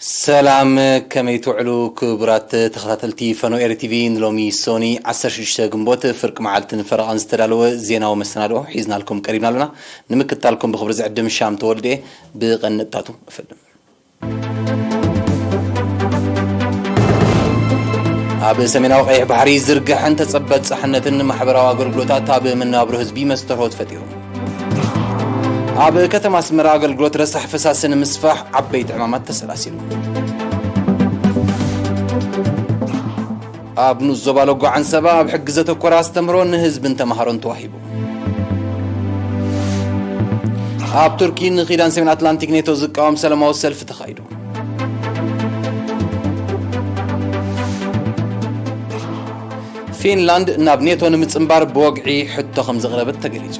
ሰላም ከመይ ትውዕሉ ክቡራት ተኸታተልቲ ፈኖ ኤሪ ቲቪ ንሎሚ ሶኒ ዓሰርተ ሽዱሽተ ግንቦት ፍርቂ መዓልትን ፈረቓን ዝተዳለወ ዜናዊ መሰናድኦ ሒዝናልኩም ቀሪብና ኣለና ንምክትታልኩም ብኽብሪ ዝዕድም ሻም ተወልደ እየ ብቐንጥታቱ እፍልም ኣብ ሰሜናዊ ቀይሕ ባሕሪ ዝርግሐን ተጸበት ጻሕነትን ማሕበራዊ ኣገልግሎታት ኣብ መነባብሮ ህዝቢ መስተርሆት ፈጢሩ ኣብ ከተማ ኣስመራ ኣገልግሎት ረሳሕ ፈሳሲ ንምስፋሕ ዓበይቲ ዕማማት ተሰላሲሉ ኣብ ንኡስ ዞባ ሎጎ ዓንሰባ ኣብ ሕጊ ዘተኮረ ኣስተምህሮ ንህዝብን ተምሃሮን ተዋሂቡ ኣብ ቱርኪ ንኪዳን ሰሜን ኣትላንቲክ ኔቶ ዝቃወም ሰላማዊ ሰልፊ ተኻይዱ ፊንላንድ ናብ ኔቶ ንምጽንባር ብወግዒ ሕቶ ከም ዘቕረበት ተገሊጹ።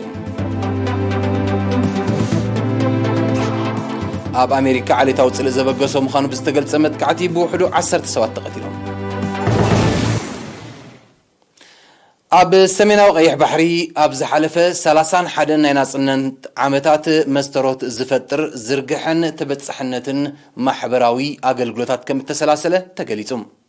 ኣብ ኣሜሪካ ዓሌታዊ ጽልእ ዘበገሶ ምዃኑ ብዝተገልጸ መጥቃዕቲ ብውሕዱ ዓሰርተ ሰባት ተቐቲሎም። ኣብ ሰሜናዊ ቀይሕ ባሕሪ ኣብ ዝሓለፈ ሰላሳን ሓደን ናይ ናጽነት ዓመታት መስተሮት ዝፈጥር ዝርግሐን ተበጻሕነትን ማሕበራዊ ኣገልግሎታት ከም እተሰላሰለ ተገሊጹ።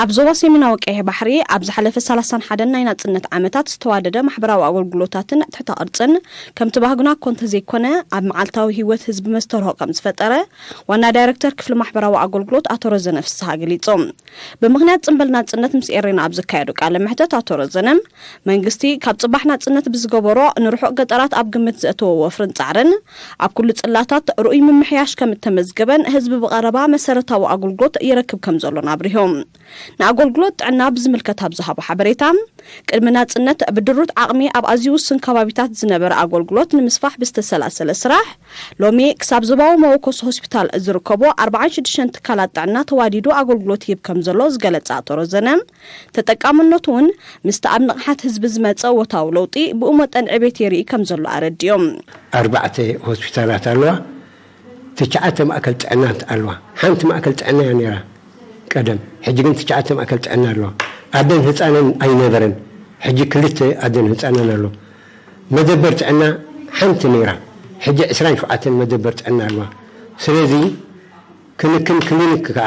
ኣብ ዞባ ሰሜናዊ ቀይሕ ባሕሪ ኣብ ዝሓለፈ ሰላሳን ሓደን ናይ ናጽነት ዓመታት ዝተዋደደ ማሕበራዊ ኣገልግሎታትን ትሕተ ቅርጽን ከምቲ ባህግና እኮ እንተዘይኮነ ኣብ መዓልታዊ ህይወት ህዝቢ መስተርሆ ከምዝፈጠረ ዋና ዳይረክተር ክፍሊ ማሕበራዊ ኣገልግሎት ኣቶ ረዘነ ፍስሃ ገሊጾም። ብምኽንያት ጽንበል ናጽነት ምስ ኤሬና ኣብ ዘካየዶ ቃለ መሕተት ኣቶ ረዘነ፣ መንግስቲ ካብ ጽባሕ ናጽነት ብዝገበሮ ንርሑቕ ገጠራት ኣብ ግምት ዘእተወ ወፍርን ጻዕርን፣ ኣብ ኩሉ ጽላታት ርኡይ ምምሕያሽ ከም እተመዝገበን ህዝቢ ብቐረባ መሰረታዊ ኣጉልግሎት ይረክብ ከም ዘሎን ኣብሪሆም። ንኣጎልግሎት ጥዕና ብዝምልከት ኣብ ዝሃቦ ሓበሬታ፣ ቅድሚ ናጽነት ብድሩት ዓቕሚ ኣብ ኣዝዩ ውሱን ከባቢታት ዝነበረ ኣጎልግሎት ንምስፋሕ ብዝተሰላሰለ ስራሕ፣ ሎሚ ክሳብ ዞባዊ መወከሲ ሆስፒታል ዝርከቦ ኣርብዓን ሽዱሽተን ትካላት ጥዕና ተዋዲዱ ኣጎልግሎት ይህብ ከም ዘሎ ዝገለጸ ኣቶ ረዘነ፣ ተጠቃምነቱ እውን ምስቲ ኣብ ንቕሓት ህዝቢ ዝመፀ ወታዊ ለውጢ ብኡ መጠን ዕቤት የርኢ ከምዘሎ ኣረዲኦም። ኣርባዕተ ሆስፒታላት ኣለዋ፣ ትሽዓተ ማእከል ጥዕናት ኣለዋ። ሓንቲ ማእከል ጥዕና እያ ነይራ ቀደም፣ ሕጂ ግን ትሽዓተ ማእከል ጥዕና ኣለዋ። ኣደን ህጻንን ኣይነበረን፣ ሕጂ ክልተ ኣደን ህጻንን ኣሎ። መደበር ጥዕና ሓንቲ ነይራ፣ ሕጂ ዕስራን ሸውዓተን መደበር ጥዕና ኣለዋ። ስለዚ ክንክን ክሊኒክ ከኣ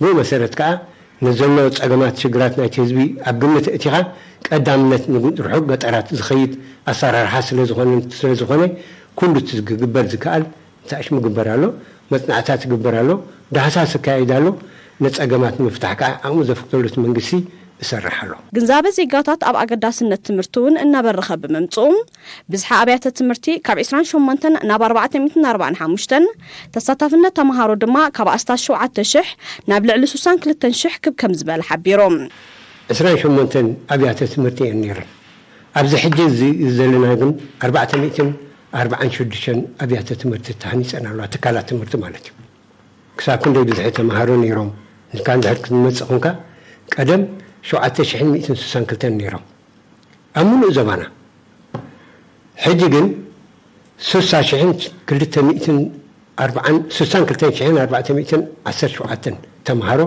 ብኡ መሰረት ከኣ ንዘሎ ጸገማት ሽግራት ናይቲ ህዝቢ ኣብ ግምት እእቲኻ ቀዳምነት ንርሑቕ ገጠራት ዝኸይድ ኣሰራርሓ ስለዝኾነ ስለዝኾነ ኩሉ እቲ ክግበር ዝከኣል እንታይሽ ምግበር ኣሎ፣ መጽናዕትታት ይግበር ኣሎ፣ ዳህሳስ ይካየድ ኣሎ፣ ንጸገማት ንምፍታሕ ከኣ ዓቕሙ ዘፍቅደሉ እቲ መንግስቲ እሰርሕ ኣሎ። ግንዛበ ዜጋታት ኣብ ኣገዳስነት ትምህርቲ'ውን እናበረኸ ብምምጽኡ ብዝሒ ኣብያተ ትምህርቲ ካብ ዕስራን ሸሞንተን ናብ ኣርባዕተ ሚእትን ኣርባዓን ሓሙሽተን፣ ተሳታፍነት ተመሃሮ ድማ ካብ ኣስታት ሸውዓተ ሽሕ ናብ ልዕሊ ሱሳን ክልተን ሽሕ ክብ ከም ዝበለ ሓቢሩ። ዕስራን ሸሞንተን ኣብያተ ትምህርቲ እየን ነይረን። ኣብዚ ሕጂ እዚ ዘለና ግን ኣርባዕተ ሚእትን ኣርባዓን ሽዱሽተን ኣብያተ ትምህርቲ ተሃኒጸን ኣለዋ፣ ትካላት ትምህርቲ ማለት እዩ። ክሳብ ክንደይ ብዝሒ ተመሃሮ ነይሮም ንካ እንድሕር ክትመጽእ ኹንካ፣ ቀደም ሸውዓተ ሽሕን ሚእትን ሱሳን ክልተን ነይሮም። ኣብ ምሉእ ዘባና። ሕጂ ግን ሱሳ ሽሕን ክልተ ሚእትን ኣርብዓን ሱሳን ክልተን ሽሕን ኣርባዕተ ሚእትን ዓሰርተ ሸውዓተን ተመሃሮ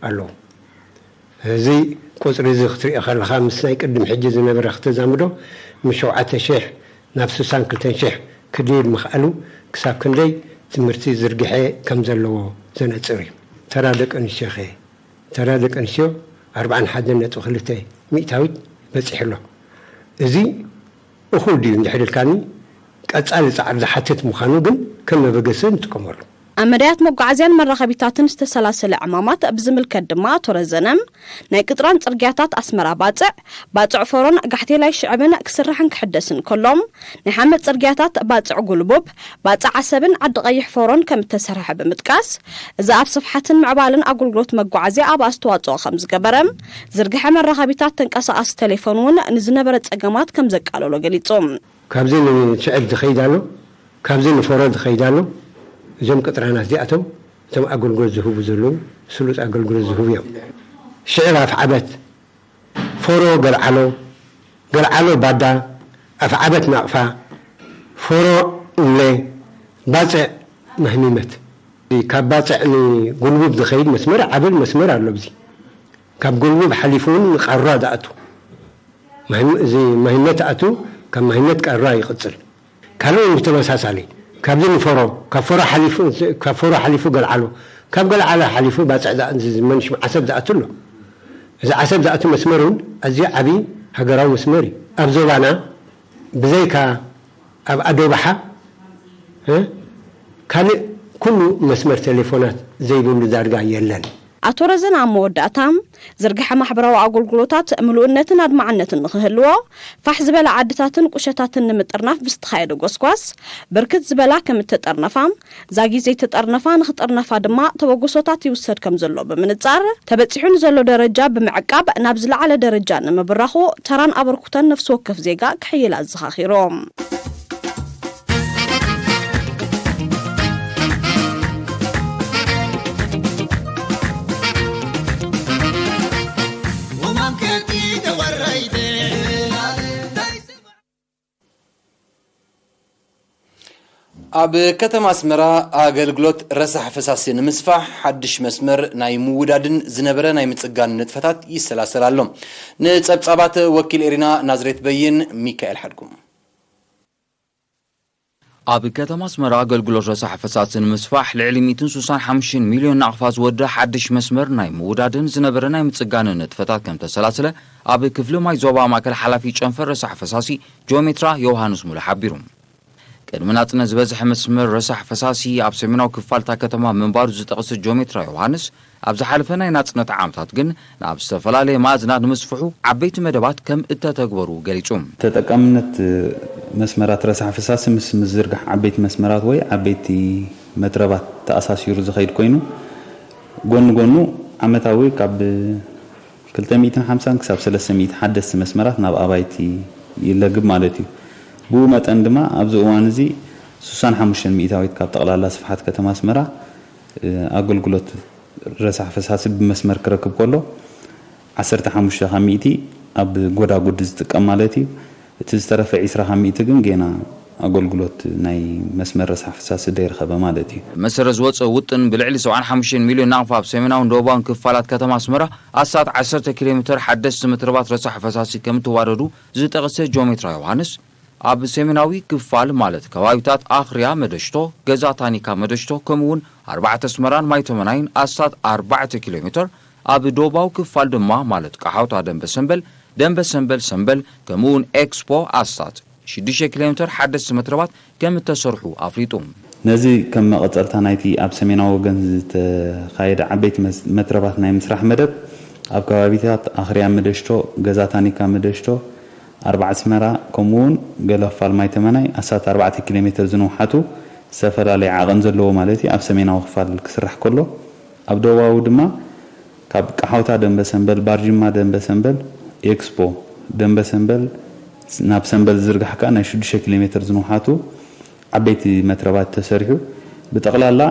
ኣለዉ። እዚ ቁጽሪ እዚ ክትሪኦ ከለኻ ምስ ናይ ቅድም ሕጂ ዝነበረ ክተዛምዶ ምስ ሸውዓተ ሽሕ ናብ ሱሳን ክልተን ሽሕ ክድይብ ምኽኣሉ ክሳብ ክንደይ ትምህርቲ ዝርግሐ ከም ዘለዎ ዘነጽር እዩ። ተራ ደቂ ኣንስትዮኸ? ተራ ደቂ ኣንስትዮ ኣርብዓን ሓደን ነጥቢ ክልተ ሚእታዊት በጺሑ ኣሎ። እዚ እኹል ድዩ እንድሕሪ ኢልካኒ፣ ቀጻሊ ጻዕሪ ዝሓትት ምዃኑ ግን ከም መበገሲ ንጥቀመሉ። ኣብ መዳያት መጓዓዝያን መራኸቢታትን ዝተሰላሰለ ዕማማት ብዝምልከት ድማ ኣቶ ረዘነ፣ ናይ ቅጥራን ጽርግያታት ኣስመራ-ባጽዕ፣ ባጽዕ ፎሮን ጋሕቴላይ ሽዕብን ክስራሕን ክሕደስን ከሎ፣ ናይ ሓመድ ጽርግያታት ባጽዕ ጉልቡብ፣ ባጽዕ ዓሰብን ዓዲ ቐይሕ ፎሮን ከም እተሰርሐ ብምጥቃስ፣ እዚ ኣብ ስፍሓትን ምዕባለን ኣገልግሎት መጓዓዝያ ኣብ ኣስተዋጽኦ ከም ዝገበረ፣ ዝርግሐ መራኸቢታት ተንቀሳቓሲ ተሌፎን እውን ንዝነበረ ጸገማት ከም ዘቃለሎ ገሊጹ። ካብዚ ንሽዕብ ዝኸይድ ኣሎ፣ ካብዚ ንፎሮ ዝኸይድ ኣሎ፣ እዞም ቅጥራናት እዚኣቶም እቶም ኣገልግሎት ዝህቡ ዘለዉ ስሉጥ ኣገልግሎት ዝህቡ እዮም። ሽዕብ ኣፍዓበት። ፎሮ ገልዓሎ ገልዓሎ ባዳ ኣፍዓበት ናቕፋ ፎሮ እምለ ባጽዕ ማህሚመት። ካብ ባጽዕ ን ጎልቡብ ዝኸይድ መስመር ዓብል መስመር ኣሎ ኣብዚ ካብ ጎልቡብ ሓሊፉ ውን ን ቃሯ ዝኣቱ እዚ ማህመት ኣቱ ካብ ማህመት ቃሯ ይቕጽል። ካልእውን ብተመሳሳሊ ካብዚ ንፈሮ ካብ ፈሮ ሓሊፉ ካብ ፈሮ ሓሊፉ ገልዓሎ ካብ ገልዓሎ ሓሊፉ ባጽዕ ዝዝመን ሽም ዓሰብ ዝኣቱ ኣሎ። እዚ ዓሰብ ዝኣቱ መስመር እውን ኣዝዩ ዓቢ ሃገራዊ መስመር እዩ። ኣብ ዞባና ብዘይካ ኣብ ኣዶብሓ እ ካልእ ኩሉ መስመር ቴሌፎናት ዘይብሉ ዳርጋ የለን። ኣቶ ረዘነ ኣብ መወዳእታ፣ ዝርግሐ ማሕበራዊ ኣገልግሎታት ምሉእነትን ኣድማዕነትን ንኽህልዎ፣ ፋሕ ዝበላ ዓድታትን ቁሸታትን ንምጥርናፍ ብዝተኻየደ ጎስጓስ፣ ብርክት ዝበላ ከም እተጠርነፋ፣ ዛጊት ዘይተጠርነፋ ንኽጥርነፋ ድማ ተበግሶታት ይውሰድ ከም ዘሎ ብምንጻር፣ ተበጺሑ ንዘሎ ደረጃ ብምዕቃብ ናብ ዝለዓለ ደረጃ ንምብራኹ ተራን ኣበርኩተን ነፍሲ ወከፍ ዜጋ ክሕይል ኣዘኻኺሮም። ኣብ ከተማ ኣስመራ ኣገልግሎት ረሳሕ ፈሳሲ ንምስፋሕ ሓድሽ መስመር ናይ ምውዳድን ዝነበረ ናይ ምጽጋን ንጥፈታት ይሰላሰል ኣሎ ንጸብጻባት ወኪል ኤሪና ናዝሬት በይን ሚካኤል ሓድጉም ኣብ ከተማ ኣስመራ ኣገልግሎት ረሳሕ ፈሳሲ ንምስፋሕ ልዕሊ ሚእትን ስሳን ሓሙሽተን ሚልዮን ናቕፋ ዝወድእ ሓድሽ መስመር ናይ ምውዳድን ዝነበረ ናይ ምጽጋንን ንጥፈታት ከም ተሰላስለ ኣብ ክፍሊ ማይ ዞባ ማእከል ሓላፊ ጨንፈር ረሳሕ ፈሳሲ ጂኦሜትራ ዮውሃንስ ሙሉ ሓቢሩ። ቅድሚ ናጽነት ዝበዝሐ መስመር ረሳሕ ፈሳሲ ኣብ ሰሜናዊ ክፋል እታ ከተማ ምንባሩ ዝጠቕሰ ጂኦሜትራ ዮውሃንስ፣ ኣብ ዝሓለፈ ናይ ናጽነት ዓመታት ግን ናብ ዝተፈላለየ ማእዝናት ንምስፍሑ ዓበይቲ መደባት ከም እተተግበሩ ገሊጹ። ተጠቃምነት መስመራት ረሳሕ ፍሳሲ ምስ ምዝርጋሕ ዓበይቲ መስመራት ወይ ዓበይቲ መትረባት ተኣሳሲሩ ዝኸይድ ኮይኑ፣ ጎኒ ጎኑ ዓመታዊ ካብ ክልተ ሚእትን ሓምሳን ክሳብ ሰለስተ ሚእቲ ሓደስቲ መስመራት ናብ ኣባይቲ ይለግብ ማለት እዩ። ብኡ መጠን ድማ ኣብዚ እዋን እዚ ስሳን ሓሙሽተን ሚእታዊት ካብ ጠቕላላ ስፍሓት ከተማ ኣስመራ ኣገልግሎት ረሳሕ ፈሳሲ ብመስመር ክረክብ ከሎ ዓሰርተ ሓሙሽተ ካብ ሚእቲ ኣብ ጎዳጉዲ ዝጥቀም ማለት እዩ። እቲ ዝተረፈ ዕስራ ካብ ሚእቲ ግን ጌና ኣገልግሎት ናይ መስመር ረሳሕ ፈሳሲ ደይረኸበ ማለት እዩ። ብመሰረት ዝወጸ ውጥን ብልዕሊ ሰብዓን ሓሙሽተን ሚልዮን ናቕፋ ኣብ ሰሜናውን ደቡባውን ክፋላት ከተማ ኣስመራ ኣስታት ዓሰርተ ኪሎሜተር ሓደስቲ መትረባት ረሳሕ ፈሳሲ ከምእተዋደዱ ዝጠቕሰ ጆሜትራ ዮውሃንስ፣ ኣብ ሰሜናዊ ክፋል ማለት ከባቢታት ኣኽርያ መደሽቶ፣ ገዛ ታኒካ መደሽቶ ከምኡ እውን ኣርባዕተ ኣስመራን ማይተመናይን ኣስታት ኣርባዕተ ኪሎ ሜተር፣ ኣብ ደቡባዊ ክፋል ድማ ማለት ቀሓውታ ደምበ ሰምበል፣ ደምበ ሰምበል ሰምበል ከምኡ እውን ኤክስፖ ኣስታት ሽዱሽተ ኪሎ ሜተር ሓደስቲ መትረባት ከም እተሰርሑ ኣፍሊጡ። ነዚ ከም መቐጸልታ ናይቲ ኣብ ሰሜናዊ ወገን ዝተኻየደ ዓበይቲ መትረባት ናይ ምስራሕ መደብ፣ ኣብ ከባቢታት ኣኽርያ መደሽቶ፣ ገዛ ታኒካ መደሽቶ፣ ኣርባዓስመራ ከምኡውን ገላፋልማይ ተመናይ ኣስታት ኣርባዕተ ኪሎ ሜተር ዝንውሓቱ ዝተፈላለየ ዓቐን ዘለዎ ማለት እዩ ኣብ ሰሜናዊ ክፋል ክስራሕ ከሎ ኣብ ደቡባዊ ድማ ካብ ቀሓውታ ደምበሰንበል ባርጅማ ደምበሰንበል ኤክስፖ ደምበሰንበል ናብ ሰንበል ዝዝርጋሕ ከኣ ናይ ሽዱሽተ ኪሎ ሜተር ዝንውሓቱ ዓበይቲ መትረባት ተሰሪሑ ብጠቕላላ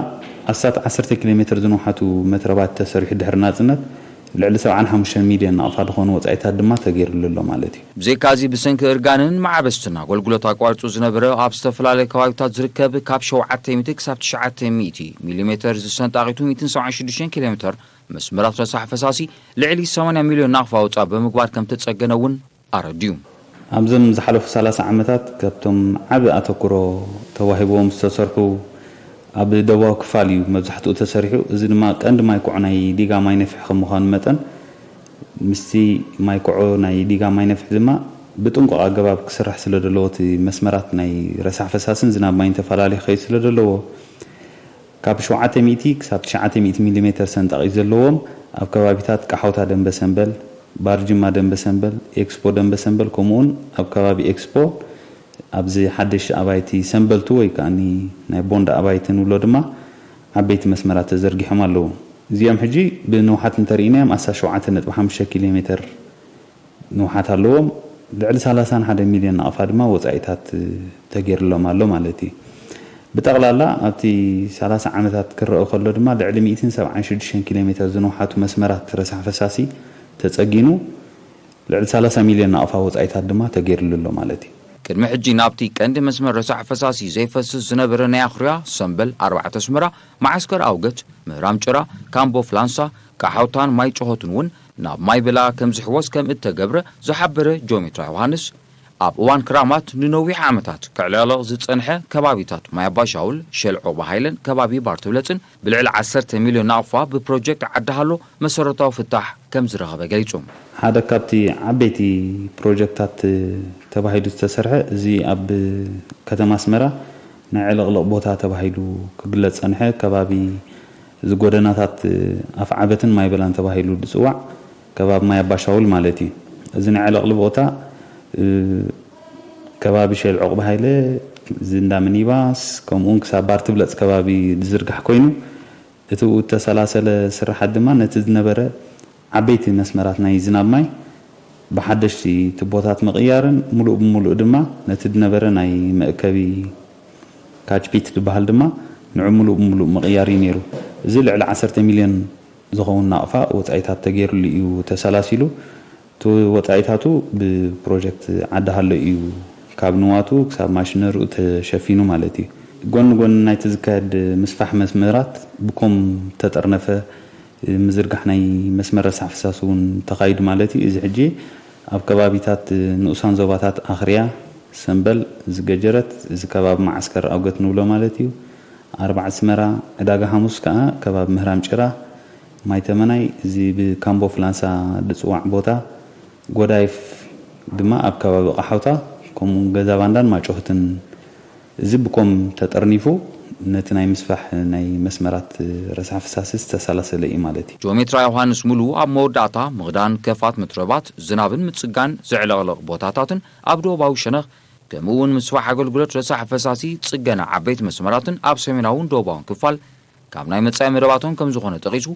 ኣስታት ዓሰርተ ኪሎ ሜትር ዝንውሓቱ መትረባት ተሰሪሑ ድሕሪ ናጽነት ልዕሊ ሰብዓን ሓሙሽተን ሚልዮን ናቕፋ ዝኾኑ ወጻኢታት ድማ ተገይርሉ ኣሎ ማለት እዩ። ብዘይካ'ዚ ብሰንኪ እርጋንን መዓበስትን ኣገልግሎት ኣቋሪጹ ዝነበረ ኣብ ዝተፈላለየ ከባቢታት ዝርከብ ካብ ሸውዓተ ሚእቲ ክሳብ ትሽዓተ ሚእቲ ሚሊ ሜተር ዝሰንጣቂቱ ሚእትን ሰብዓን ሽዱሽተን ኪሎ ሜተር መስመራት ረሳሕ ፈሳሲ ልዕሊ ሰማንያ ሚልዮን ናቕፋ ወጻእ ብምግባር ከምተጸገነ እውን ኣረዲኡ። ኣብዞም ዝሓለፉ ሰላሳ ዓመታት ካብቶም ዓቢ ኣተኩሮ ተዋሂብዎም ዝተሰርሑ ኣብ ደቡባዊ ክፋል እዩ መብዛሕትኡ ተሰሪሑ። እዚ ድማ ቀንዲ ማይክዖ ናይ ዲጋ ማይነፍሒ ከም ምዃኑ መጠን ምስቲ ማይክዖ ናይ ዲጋ ማይነፍሒ ድማ ብጥንቁቕ ኣገባብ ክስራሕ ስለደለዎ እቲ መስመራት ናይ ረሳሕ ፈሳሲን ዝናብ ማይን ተፈላልዩ ክኸይድ ስለደለዎ ካብ ሸውዓተ ሚእቲ ክሳብ ትሽዓተ ሚእቲ ሚሊሜተር ሰንጣቒት ዘለዎም ኣብ ከባቢታት ቃሖታ ደምበሰንበል፣ ባርጅማ ደምበሰንበል፣ ኤክስፖ ደምበሰንበል ከምኡውን ኣብ ከባቢ ኤክስፖ ኣብዚ ሓደሽቲ ኣባይቲ ሰንበልቱ ወይ ከኣኒ ናይ ቦንዳ ኣባይቲ ንብሎ ድማ ዓበይቲ መስመራት ተዘርጊሖም ኣለዉ። እዚኦም ሕጂ ብንውሓት እንተርኢናዮም ኣስታት ሸውዓተ ነጥቢ ሓሙሽተ ኪሎሜተር ንውሓት ኣለዎም። ልዕሊ ሰላሳን ሓደን ሚልዮን ናቕፋ ድማ ወጻኢታት ተገይርሎም ኣሎ ማለት እዩ። ብጠቕላላ ኣብቲ ሰላሳ ዓመታት ክረኦ ከሎ ድማ ልዕሊ ሚእትን ሰብዓን ሽዱሽተን ኪሎሜተር ዝንውሓቱ መስመራት ረሳሕ ፈሳሲ ተጸጊኑ ልዕሊ ሰላሳ ሚልዮን ናቕፋ ወጻኢታት ድማ ተገይርሉ ኣሎ ማለት እዩ። ቅድሚ ሕጂ ናብቲ ቀንዲ መስመር ረሳሕ ፈሳሲ ዘይፈስስ ዝነበረ ናይ ኣኹርያ፣ ሰምበል፣ ኣርባዕተ ኣስመራ፣ መዓስከር ኣውገት፣ ምህራም ጭራ፣ ካምቦ ፍላንሳ፣ ቃሓውታን ማይ ጭሆትን እውን ናብ ማይ ብላ ከም ዝሕወስ ከም እተገብረ ዝሓበረ ጆሜትራ ዮሃንስ፣ ኣብ እዋን ክራማት ንነዊሕ ዓመታት ከዕለቕልቕ ዝጸንሐ ከባቢታት ማይ ኣባይ ሻውል፣ ሸል ዖቕባ ሃይለን ከባቢ ባርትብለጽን ብልዕሊ ዓሰርተ ሚልዮን ናቕፋ ብፕሮጀክት ዓዲ ሃሎ መሰረታዊ ፍታሕ ከም ዝረኸበ ገሊጹ። ሓደ ካብቲ ዓበይቲ ፕሮጀክታት ተባሂሉ ዝተሰርሐ እዚ ኣብ ከተማ ኣስመራ ናይ ዕልቕልቕ ቦታ ተባሂሉ ክግለጽ ዝጸንሐ ከባቢ እዚ ጎደናታት ኣፍዓበትን ማይበላን ተባሂሉ ዝጽዋዕ ከባቢ ማይ ኣባሻውል ማለት እዩ። እዚ ናይ ዕልቕሊ ቦታ ከባቢ ሼል ዑቕበ ሃይለ፣ እዚ እንዳ ሚኒባስ ከምኡውን ክሳብ ባር ትብለጽ ከባቢ ዝዝርጋሕ ኮይኑ እቲ ብኡ እተሰላሰለ ስርሓት ድማ ነቲ ዝነበረ ዓበይቲ መስመራት ናይ ዝናብ ማይ ብሓደሽቲ ቱቦታት ምቕያርን ሙሉእ ብሙሉእ ድማ ነቲ ድነበረ ናይ መእከቢ ካች ፒት ድበሃል ድማ ንዑ ሙሉእ ብሙሉእ ምቕያር እዩ ነይሩ። እዚ ልዕሊ ዓሰርተ ሚልዮን ዝኸውን ናቕፋ ወጻኢታት ተገይርሉ እዩ ተሰላሲሉ። እቲ ወጻኢታቱ ብፕሮጀክት ዓዲ ሃሎ እዩ ካብ ንዋቱ ክሳብ ማሽነርኡ ተሸፊኑ ማለት እዩ። ጎኒ ጎኒ ናይቲ ዝካየድ ምስፋሕ መስመራት ብኮም ተጠርነፈ ምዝርጋሕ ናይ መስመር ረሳሕ ፍሳስ እውን ተኻይዱ ማለት እዩ። እዚ ሕጂ ኣብ ከባቢታት ንኡሳን ዞባታት ኣኽርያ፣ ሰምበል፣ እዚ ገጀረት፣ እዚ ከባቢ መዓስከር ኣውገት ንብሎ ማለት እዩ፣ ኣርባዕስመራ፣ ዕዳጋ ሓሙስ ከኣ ከባቢ ምህራም ጭራ፣ ማይ ተመናይ፣ እዚ ብካምቦ ፍላንሳ ዝጽዋዕ ቦታ፣ ጎዳይፍ ድማ ኣብ ከባቢ ቐሓውታ ከምኡውን ገዛባንዳን ማጮህትን፣ እዚ ብኮም ተጠርኒፉ ነቲ ናይ ምስፋሕ ናይ መስመራት ረሳሕ ፍሳሲ ዝተሰላሰለ እዩ ማለት እዩ። ጂኦሜትራ ዮሃንስ ሙሉ ኣብ መወዳእታ ምኽዳን ከፋት ምትረባት ዝናብን ምጽጋን ዝዕለቕለቕ ቦታታትን ኣብ ዶባዊ ሸነኽ ከምኡ'ውን ምስፋሕ ኣገልግሎት ረሳሕ ፈሳሲ ጽገና ዓበይቲ መስመራትን ኣብ ሰሜናውን ዶባውን ክፋል ካብ ናይ መጻኢ መደባቶም ከምዝኾነ ጠቒሱ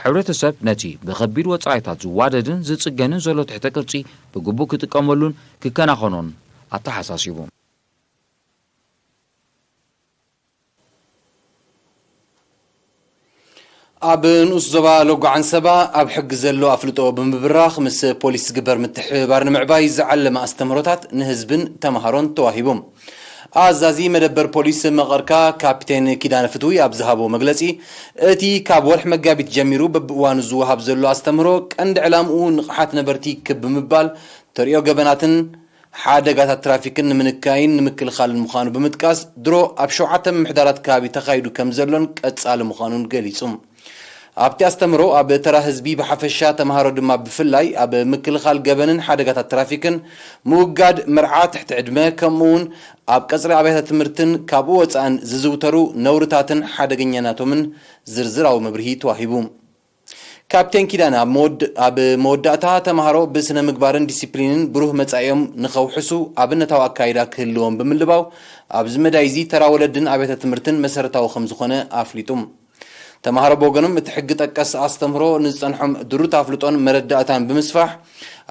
ሕብረተሰብ ነቲ ብኸቢድ ወጻኢታት ዝዋደድን ዝጽገንን ዘሎ ትሕተ ቅርጺ ብግቡእ ክጥቀመሉን ክከናኸኖን ኣተሓሳሲቡ። ኣብ ንኡስ ዞባ ሎጎ ዓንሰባ ኣብ ሕጊ ዘሎ ኣፍልጦ ብምብራኽ ምስ ፖሊስ ዝግበር ምትሕብባር ንምዕባይ ዝዓለመ ኣስተምህሮታት ንህዝብን ተምሃሮን ተዋሂቡ። ኣዛዚ መደበር ፖሊስ መቐርካ ካፒቴን ኪዳነ ፍትዊ ኣብ ዝሃቦ መግለፂ፣ እቲ ካብ ወርሒ መጋቢት ጀሚሩ በብእዋኑ ዝወሃብ ዘሎ ኣስተምህሮ ቀንዲ ዕላምኡ ንቕሓት ነበርቲ ክብ ብምባል ተርእዮ ገበናትን ሓደጋታት ትራፊክን ንምንካይን ንምክልኻልን ምዃኑ ብምጥቃስ፣ ድሮ ኣብ ሸውዓተ ምምሕዳራት ከባቢ ተኻይዱ ከምዘሎን ቀጻሊ ምዃኑን ገሊጹ። ኣብቲ ኣስተምህሮ፣ ኣብ ተራ ህዝቢ ብሓፈሻ ተመሃሮ ድማ ብፍላይ ኣብ ምክልኻል ገበንን ሓደጋታት ትራፊክን፣ ምውጋድ መርዓ ትሕቲ ዕድመ፣ ከምኡ'ውን ኣብ ቀጽሪ ኣብያተ ትምህርትን ካብኡ ወጻእን ዝዝውተሩ ነውርታትን ሓደገኛናቶምን ዝርዝራዊ መብርሂ ተዋሂቡ። ካፕቴን ኪዳነ ኣብ መወዳእታ፣ ተማሃሮ ብስነ-ምግባርን ዲሲፕሊንን ብሩህ መጻኢኦም ንኸውሕሱ ኣብነታዊ ኣካይዳ ክህልዎም ብምልባው፣ ኣብዚ መዳይ'ዚ ተራ ወለድን ኣብያተ ትምህርትን መሰረታዊ ከም ዝኾነ ኣፍሊጡ። ተማሃሮ ብወገኖም እቲ ሕጊ ጠቀስ ኣስተምህሮ ንዝጸንሖም ድሩት ኣፍልጦን መረዳእታን ብምስፋሕ፣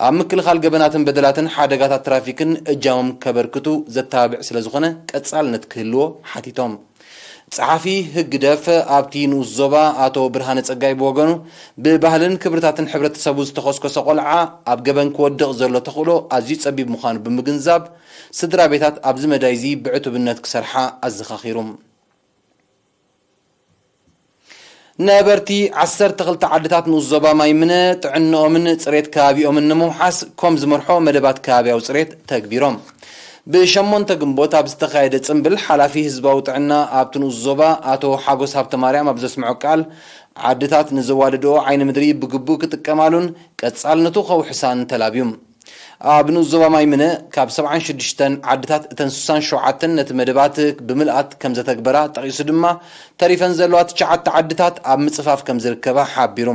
ኣብ ምክልኻል ገበናትን በደላትን ሓደጋታት ትራፊክን እጃሞም ከበርክቱ ዘተባብዕ ስለዝኾነ ቀጻልነት ክህልዎ ሓቲቶም። ጸሓፊ ህግደፍ ኣብቲ ንኡስ ዞባ ኣቶ ብርሃነ ጸጋይ ብወገኑ፣ ብባህልን ክብርታትን ሕብረተሰቡ ዝተኾስኮሰ ቆልዓ ኣብ ገበን ክወድቕ ዘሎ ተኽእሎ ኣዝዩ ጸቢብ ምዃኑ ብምግንዛብ፣ ስድራቤታት ኣብዚ መዳይ'ዚ ብዕቱብነት ክሰርሓ ኣዘኻኺሩ። ነበርቲ ዓሰርተ ክልተ ዓድታት ንኡስ ዞባ ማይ ምነ ጥዕንኦምን ፅሬት ከባቢኦምን ንምውሓስ ኮም ዝመርሖ መደባት ከባቢያዊ ፅሬት ተግቢሮም። ብ ሸሞንተ ግንቦት ኣብ ዝተኻየደ ፅምብል ሓላፊ ህዝባዊ ጥዕና ኣብቲ ንኡስ ዞባ ኣቶ ሓጎስ ሃብተማርያም ኣብ ዘስምዖ ቃል ዓድታት ንዘዋደድኦ ዓይኒ ምድሪ ብግቡእ ክጥቀማሉን ቀፃልነቱ ከውሕሳን ተላብዩም። ኣብ ንኡስ ዞባ ማይምነ ካብ ሰብዓን ሽዱሽተን ዓድታት እተን ስሳን ሸውዓተን ነቲ መደባት ብምልኣት ከምዘተግበራ ጠቒሱ ድማ ተሪፈን ዘለዋ ትሽዓተ ዓድታት ኣብ ምጽፋፍ ከምዝርከባ ሓቢሩ።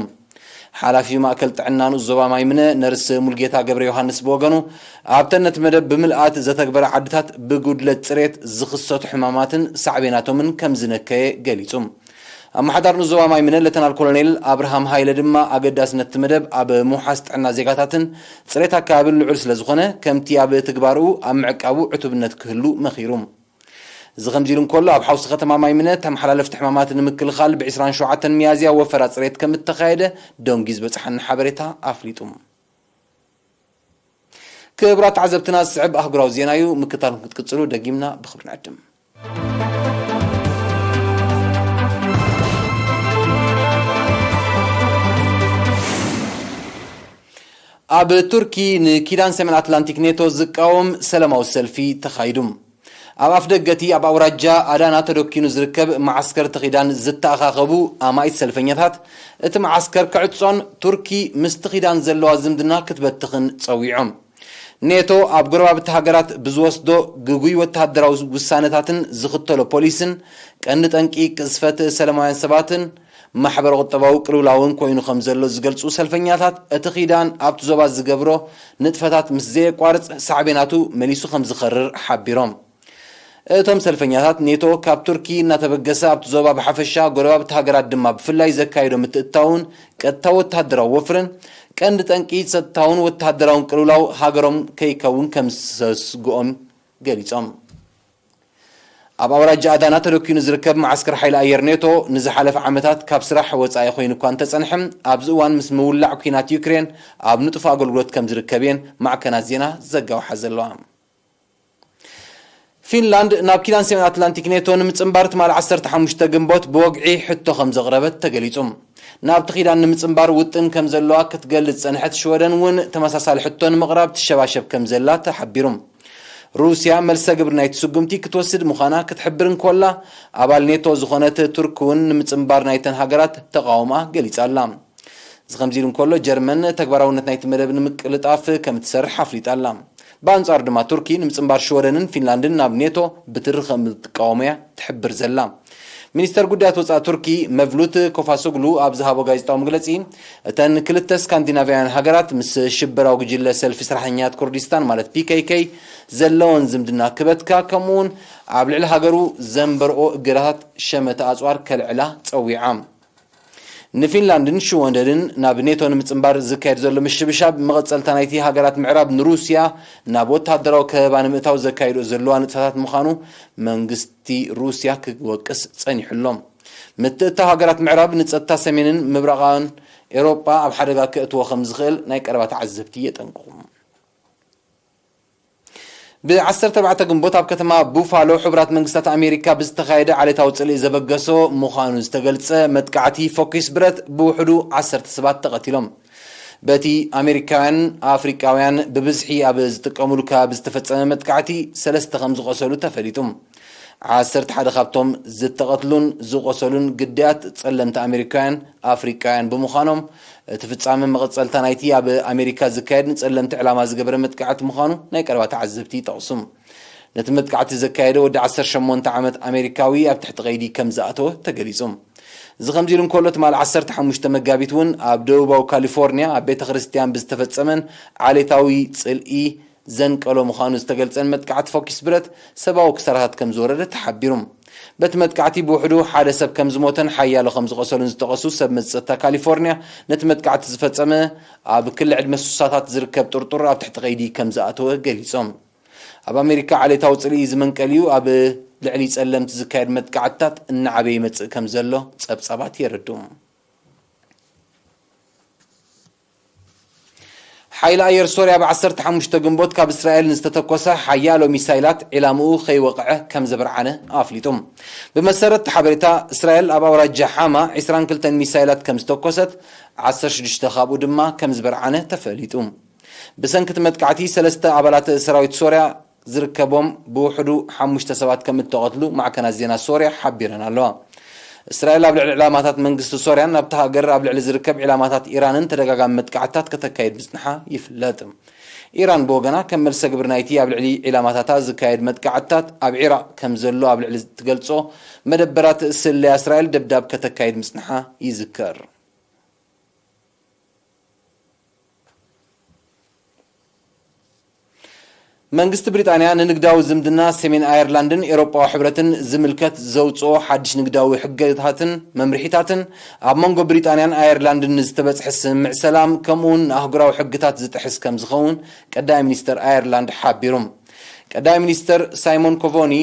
ሓላፊ ማእከል ጥዕና ንኡስ ዞባ ማይምነ ነርስ ሙልጌታ ገብረዮሃንስ ብወገኑ ኣብተን ነቲ መደብ ብምልኣት ዘተግበራ ዓድታት ብጉድለት ጽሬት ዝኽሰቱ ሕማማትን ሳዕቤናቶምን ከምዝነከየ ገሊጹ። ኣመሓዳር ን ዞባ ማይምነ ለተናል ኮሎኔል ኣብርሃም ሃይለ ድማ ኣገዳስነት እቲ መደብ ኣብ ምውሓስ ጥዕና ዜጋታትን ፅሬት ኣከባቢን ልዑል ስለዝኾነ ከምቲ ኣብ ትግባረኡ ኣብ ምዕቃቡ ዕቱብነት ክህሉ መኺሩ። እዚ ከምዚ ኢሉ እንከሎ ኣብ ሓውሲ ከተማ ማይምነ ተመሓላለፍቲ ሕማማት ንምክልኻል ብ ዕስራን ሸውዓተን ሚያዝያ ወፈራ ፅሬት ከምእተኻየደ ደንጒ ዝበፀሓና ሓበሬታ ኣፍሊጡ። ክብራት ተዓዘብትና ዝስዕብ ኣህጉራዊ ዜና እዩ ምክትታልኩም ክትቅፅሉ ደጊምና ብኽብሪ ንዕድም። ኣብ ቱርኪ ንኪዳን ሰሜን ኣትላንቲክ ኔቶ ዝቃወም ሰላማዊ ሰልፊ ተኻይዱ። ኣብ ኣፍደገ እቲ ኣብ ኣውራጃ ኣዳና ተደኪኑ ዝርከብ መዓስከር እቲ ኪዳን ዝተኣኻኸቡ ኣማኢት ሰልፈኛታት፣ እቲ መዓስከር ክዕጾን ቱርኪ ምስቲ ኪዳን ዘለዋ ዝምድና ክትበትኽን ጸዊዖም። ኔቶ ኣብ ጎረባብቲ ሃገራት ብዝወስዶ ግጉይ ወተሃደራዊ ውሳነታትን ዝኽተሎ ፖሊስን ቀንዲ ጠንቂ ቅዝፈት ሰለማውያን ሰባትን ማሕበረ-ቁጠባዊ ቅልውላውን ኮይኑ ከም ዘሎ ዝገልጹ ሰልፈኛታት፣ እቲ ኪዳን ኣብቲ ዞባ ዝገብሮ ንጥፈታት ምስ ዘየቋርጽ ሳዕቤናቱ መሊሱ ከም ዝኸርር ሓቢሮም። እቶም ሰልፈኛታት፣ ኔቶ ካብ ቱርኪ እናተበገሰ ኣብቲ ዞባ ብሓፈሻ፣ ጎረባብቲ ሃገራት ድማ ብፍላይ ዘካይዶ ምትእትታውን ቀጥታዊ ወተሃደራዊ ወፍርን፣ ቀንዲ ጠንቂ ጸጥታውን ወተሃደራውን ቅልውላው ሃገሮም ከይከውን ከምዘስግኦም ገሊጾም። ኣብ ኣውራጃ ኣዳና ተደኲኑ ዝርከብ መዓስከር ሓይሊ ኣየር ኔቶ ንዝሓለፈ ዓመታት ካብ ስራሕ ወጻኢ ኮይኑ እኳ እንተጸንሐ፣ ኣብዚ እዋን ምስ ምውላዕ ኲናት ዩክሬን ኣብ ንጡፍ ኣገልግሎት ከምዝርከብ እየን ማዕከናት ዜና ዝዘጋውሓ ዘለዋ። ፊንላንድ ናብ ኪዳን ሰሜን ኣትላንቲክ ኔቶ ንምጽንባር ትማል ዓሰርተ ሓሙሽተ ግንቦት ብወግዒ ሕቶ ከም ዘቕረበት ተገሊጹ። ናብቲ ኪዳን ንምጽንባር ውጥን ከም ዘለዋ ክትገልጽ ዝጸንሐት ሽወደን እውን ተመሳሳሊ ሕቶ ንምቕራብ ትሸባሸብ ከም ዘላ ተሓቢሩ። ሩስያ መልሰ ግብሪ ናይቲ ስጉምቲ ክትወስድ ምዃና ክትሕብር እንኮላ፣ ኣባል ኔቶ ዝኾነት ቱርክ እውን ንምጽንባር ናይተን ሃገራት ተቓውምኣ ገሊጻ ኣላ። እዚ ከምዚ ኢሉ እንከሎ፣ ጀርመን ተግባራውነት ናይቲ መደብ ንምቅልጣፍ ከም እትሰርሕ ኣፍሊጣ ኣላ። ብኣንጻሩ ድማ ቱርኪ ንምጽንባር ሽወደንን ፊንላንድን ናብ ኔቶ ብትሪ ከምትቃወም'ያ ትሕብር ዘላ። ሚኒስተር ጉዳያት ወጻኢ ቱርኪ መቭሉት ኮፋሶግሉ ኣብ ዝሃቦ ጋዜጣዊ መግለጺ፣ እተን ክልተ ስካንዲናቭያውያን ሃገራት ምስ ሽበራዊ ጉጅለ ሰልፊ ስራሕኛታት ኩርዲስታን ማለት PKK ዘለወን ዝምድና ክበትካ ከምኡ'ውን ኣብ ልዕሊ ሃገሩ ዘንበርኦ እገዳታት ሸመተ ኣጽዋር ከልዕላ ጸዊዓ። ንፊንላንድን ሽወደንን ናብ ኔቶ ንምጽንባር ዝካየድ ዘሎ ምሽብሻብ፣ መቐጸልታ ናይቲ ሃገራት ምዕራብ ንሩስያ ናብ ወተሃደራዊ ከበባ ንምእታው ዘካይድኦ ዘለዋ ንጥፈታት ምዃኑ መንግስቲ ሩስያ ክወቅስ ጸኒሑ ኣሎ። ምትእትታው ሃገራት ምዕራብ ንጸጥታ ሰሜንን ምብራቓን ኤውሮጳ ኣብ ሓደጋ ከእትዎ ከምዝኽእል ናይ ቀረባ ተዓዘብቲ የጠንቅቑ። ብ ዓሰርተ ኣርባዕተ ግንቦት ኣብ ከተማ ቡፋሎ ሕቡራት መንግስታት ኣሜሪካ ብዝተኻየደ ዓሌታዊ ጽልኢ ዘበገሶ ምዃኑ ዝተገልጸ መጥቃዕቲ ፎኪስ ብረት ብውሕዱ ዓሰርተ ሰባት ተቐቲሎም። በቲ ኣሜሪካውያን ኣፍሪቃውያን ብብዝሒ ኣብ ዝጥቀሙሉ ከባቢ ዝተፈጸመ መጥቃዕቲ ሰለስተ ከምዝቖሰሉ ተፈሊጡ። ዓሰርተ ሓደ ካብቶም ዝተቐትሉን ዝቖሰሉን ግዳያት ጸለምቲ ኣሜሪካውያን ኣፍሪቃውያን ብምዃኖም፣ እቲ ፍጻመ መቐጸልታ ናይቲ ኣብ ኣሜሪካ ዝካየድ ንጸለምቲ ዕላማ ዝገበረ መጥቃዕቲ ምዃኑ ናይ ቀረባ ተዓዘብቲ ይጠቕሱ። ነቲ መጥቃዕቲ ዘካየደ ወዲ ዓሰርተ ሸሞንተ ዓመት ኣሜሪካዊ ኣብ ትሕቲ ቀይዲ ከም ዝኣተወ ተገሊጹ። እዚ ከምዚ ኢሉ እንከሎ፣ ትማል ዓሰርተ ሓሙሽተ መጋቢት እውን ኣብ ደቡባዊ ካሊፎርንያ ኣብ ቤተ ክርስትያን ብዝተፈጸመን ዓሌታዊ ጽልኢ ዘንቀሎ ምዃኑ ዝተገልጸን መጥቃዕቲ ፎኪስ ብረት ሰባዊ ክሳራታት ከም ዝወረደ ተሓቢሩ። በቲ መጥቃዕቲ ብውሕዱ ሓደ ሰብ ከም ዝሞተን ሓያሎ ከም ዝቖሰሉን ዝጠቐሱ ሰብ መዚ ጸጥታ ካሊፎርንያ ነቲ መጥቃዕቲ ዝፈጸመ ኣብ ክሊ ዕድመ ስሳታት ዝርከብ ጥርጡር ኣብ ትሕቲ ቀይዲ ከም ዝኣተወ ገሊጾም። ኣብ ኣሜሪካ ዓሌታዊ ጽልኢ እዚ መንቀሊኡ ኣብ ልዕሊ ጸለምቲ ዝካየድ መጥቃዕትታት እናዓበየ ይመጽእ ከም ዘሎ ጸብጻባት የረድኡ። ሓይሊ ኣየር ሶርያ ብ ዓሰርተ ሓሙሽተ ግንቦት ካብ እስራኤል ንዝተተኮሰ ሓያሎ ሚሳይላት ዒላምኡ ከይወቕዐ ከምዘብርዓነ ኣፍሊጡ። ብመሰረት እቲ ሓበሬታ፣ እስራኤል ኣብ ኣውራጃ ሓማ ዕስራን ክልተን ሚሳይላት ከምዝተኮሰት፣ ዓሰርተ ሽዱሽተ ካብኡ ድማ ከምዝበርዓነ ተፈሊጡ። ብሰንኪ እቲ መጥቃዕቲ ሰለስተ ኣባላት ሰራዊት ሶርያ ዝርከቦም ብውሕዱ ሓሙሽተ ሰባት ከም እተቐትሉ ማዕከናት ዜና ሶርያ ሓቢረን ኣለዋ። እስራኤል ኣብ ልዕሊ ዕላማታት መንግስቲ ሶርያን ኣብታ ሃገር ኣብ ልዕሊ ዝርከብ ዒላማታት ኢራንን ተደጋጋሚ መጥቃዕትታት ከተካይድ ምጽንሓ ይፍለጥ። ኢራን ብወገና ከም መልሰግብሪ ናይቲ ኣብ ልዕሊ ዒላማታታ ዝካየድ መጥቃዕትታት ኣብ ዒራቕ ከም ዘሎ ኣብ ልዕሊ እትገልጾ መደበራት ስለያ እስራኤል ደብዳብ ከተካይድ ምጽንሓ ይዝከር። መንግስቲ ብሪጣንያ ንንግዳዊ ዝምድና ሰሜን ኣየርላንድን ኤውሮጳዊ ሕብረትን ዝምልከት ዘውጽኦ ሓድሽ ንግዳዊ ሕገታትን መምርሒታትን፣ ኣብ መንጎ ብሪጣንያን ኣየርላንድን ንዝተበጽሐ ስምምዕ ሰላም ከምኡ'ውን ንኣህጉራዊ ሕግታት ዝጥሕስ ከምዝኸውን ቀዳማይ ሚኒስተር ኣየርላንድ ሓቢሩ። ቀዳማይ ሚኒስተር ሳይሞን ኮቮኒ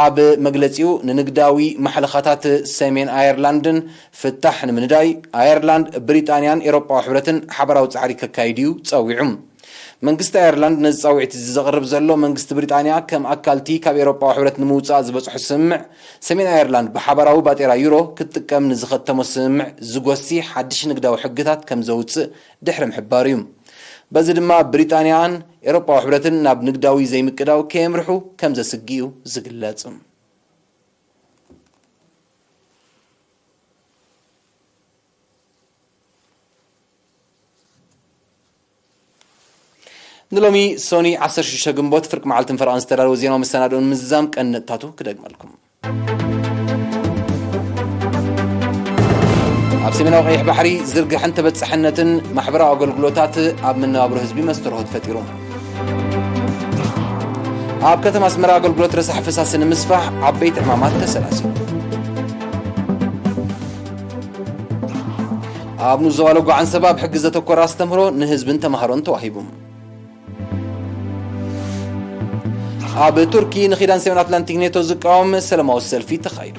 ኣብ መግለጺኡ፣ ንንግዳዊ ማሕለኻታት ሰሜን ኣየርላንድን ፍታሕ ንምንዳይ፣ ኣየርላንድ፣ ብሪጣንያን ኤውሮጳዊ ሕብረትን ሓባራዊ ጻዕሪ ከካይዱ'ዩ ጸዊዑ። መንግስቲ ኣየርላንድ ነዚ ጻዊዕት'ዚ ዘቕርብ ዘሎ፣ መንግስቲ ብሪጣንያ ከም ኣካል'ቲ ካብ ኤውሮጳዊ ሕብረት ንምውጻእ ዝበጽሖ ስምምዕ፣ ሰሜን ኣየርላንድ ብሓባራዊ ባጤራ ዩሮ ክትጥቀም ንዝኸተሞ ስምምዕ ዝጎሲ ሓድሽ ንግዳዊ ሕግታት ከምዘውጽእ ድሕሪ ምሕባሩ እዩ። በዚ ድማ ብሪጣንያን ኤሮጳዊ ሕብረትን ናብ ንግዳዊ ዘይምቅዳው ከየምርሑ ከም ዘስግእ እዩ ዝግለጽ። ንሎሚ ሶኒ ዓሰርተ ሽዱሽተ ግንቦት ፍርቂ መዓልትን ፈረቓን ዝተዳለወ ዜናዊ መሰናድኦ ንምዝዛም ቀንዲ ነጥብታቱ ክደግመልኩም። ኣብ ሰሜናዊ ቀይሕ ባሕሪ ዝርግሐን ተበፃሕነትን ማሕበራዊ ኣገልግሎታት ኣብ መነባብሮ ህዝቢ መስተርሆት ፈጢሩ ኣብ ከተማ ኣስመራ ኣገልግሎት ረሳሕ ፈሳሲ ንምስፋሕ ዓበይቲ ዕማማት ተሰላሲሉ ኣብ ንዞባ ለጓ ዓንሰባ ኣብ ሕጊ ዘተኮረ ኣስተምህሮ ንህዝብን ተምሃሮን ተዋሂቡ ኣብ ቱርኪ ንኪዳን ሰሜን ኣትላንቲክ ኔቶ ዝቃወም ሰላማዊ ሰልፊ ተኻይዱ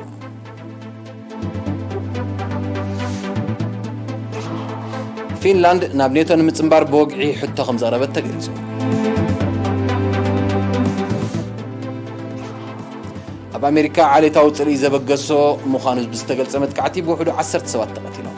ፊንላንድ ናብ ኔቶ ንምፅምባር ብወግዒ ሕቶ ከም ዘቕረበት ተገሊጹ ኣብ ኣሜሪካ ዓሌታዊ ፅርኢ ዘበገሶ ምዃኑ ብዝተገልጸ መጥቃዕቲ ብውሕዱ ዓሰርተ ሰባት ተቐቲሎም